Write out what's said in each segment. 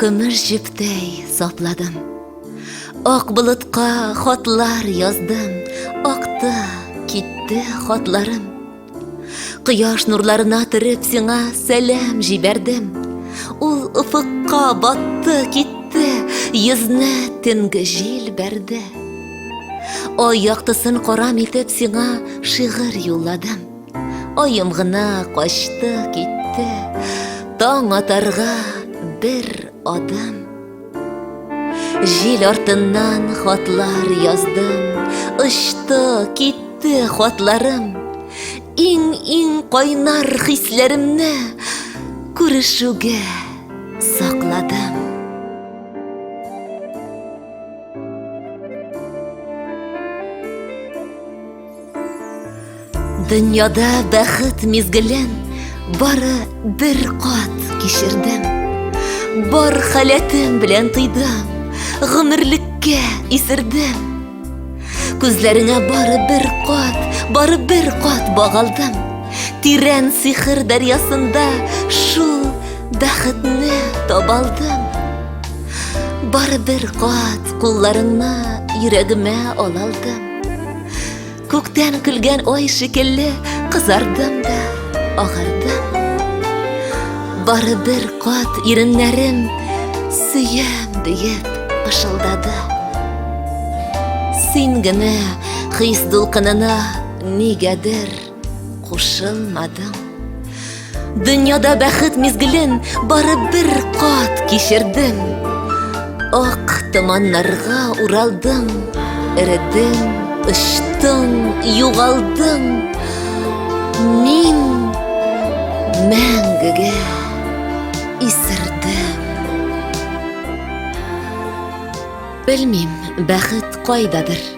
Көмеш җептәй сапладым. Ак болытка хатлар яздым, акты, китте хатларым. Кояш нурларына төреп сиңа сәлам җибәрдем. Ул офыкка батты, китте, йөзне төнге җил бәрде. Ай яктысын карам итеп сиңа шигырь юлладым. Аем гына качты, китте, Таң атарга бер адым. Жил артыннан хатлар яздым, Очты, китте хатларым. Иң-иң кайнар хисләремне Күрешүгә сакладым. Дөньяда бәхет мизгелен бары бер кат кичердем. Бар халәтем белән тыйдым, гомерлеккә исердем. Күзләреңә бары бер кат, бары бер кат багалдым. Тирән сихыр дәрьясында шул бәхетне табалдым. Бары бер кат кулларыңны йөрәгемә алалдым. Күктән көлгән ай шикелле Кызардым да, агардым Бары бер кат иреннәрем Сөям диеп пышылдады Син генә хис дулкынына Нигәдер Кушылмадың. Дөньяда бәхет мизгелен бары бер кат кичердем. Ак томаннарга уралдың, эредең, очтың, югалдың. Мин мәңгегә исердем. Белмим, бәхет кайдадыр.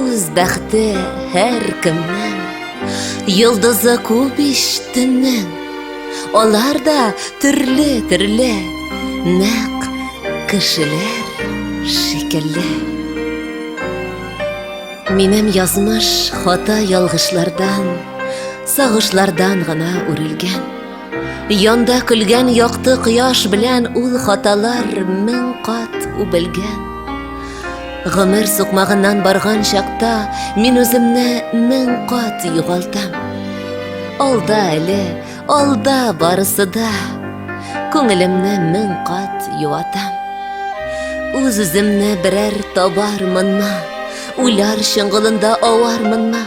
Үз бәхте һәр кемнең, йолдызы күп ич төннең. Алар да төрле-төрле, нәкъ кешеләр шикелле. Минем язмыш хата ялгышлардан, сагышлардан гына үрелгән. Янда көлгән якты кояш белән ул хаталар мең кат үбелгән. Гомер сукмагыннан барган чакта мин үземне мең кат югалтам. Алда әле, алда барысы да, күңелемне мең кат юатам. Үз-үземне берәр табар монна, уйлар чыңгылында авар монна.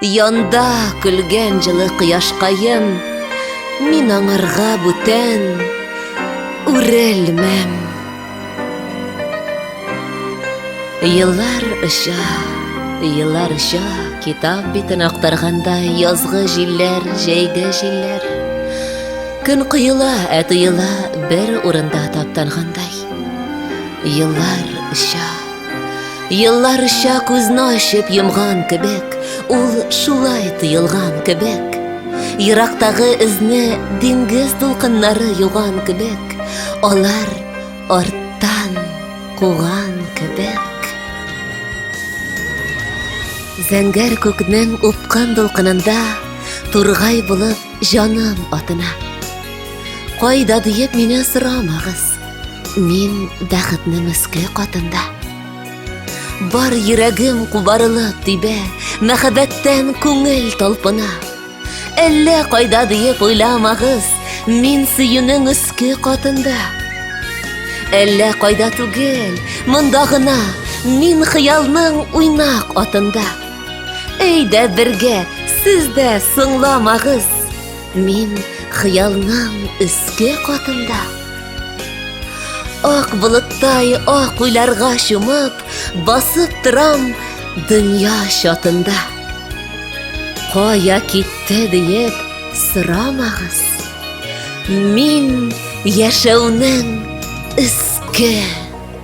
Янда көлгән җылы кояшкаем, Мин аңарга бүтән үрелмәм. Еллар оча, еллар оча, Китап битен актарганда Язгы җилләр, җәйге җилләр. Көн коела, ә тоела Бер урында таптангандай. Еллар оча. Елларча күзне ачып йомган кебек, ул шулай тыелган кебек. Ерактагы эзне диңгез дулкыннары юган кебек, алар арттан куган кебек. Зәңгәр күкнең упкан дулкынында тургай булып җаным атына. Кайда диеп мине сорамагыз. Мин бәхетне мөске катында. Бар йөрәгем кубарылып тибә, мәхәббәттән күңел талпына. Әллә кайда диеп уйламагыз, мин сөюнең өске катында. Әллә кайда түгел, монда гына, мин хыялның уйнак атында. Әйдә бергә, сез дә соңламагыз. Мин хыялның өске катында Ак болыттай ак уйларга чумып, басып торам дөнья чатында. Кая китте диеп сорамагыз. Мин яшәүнең өске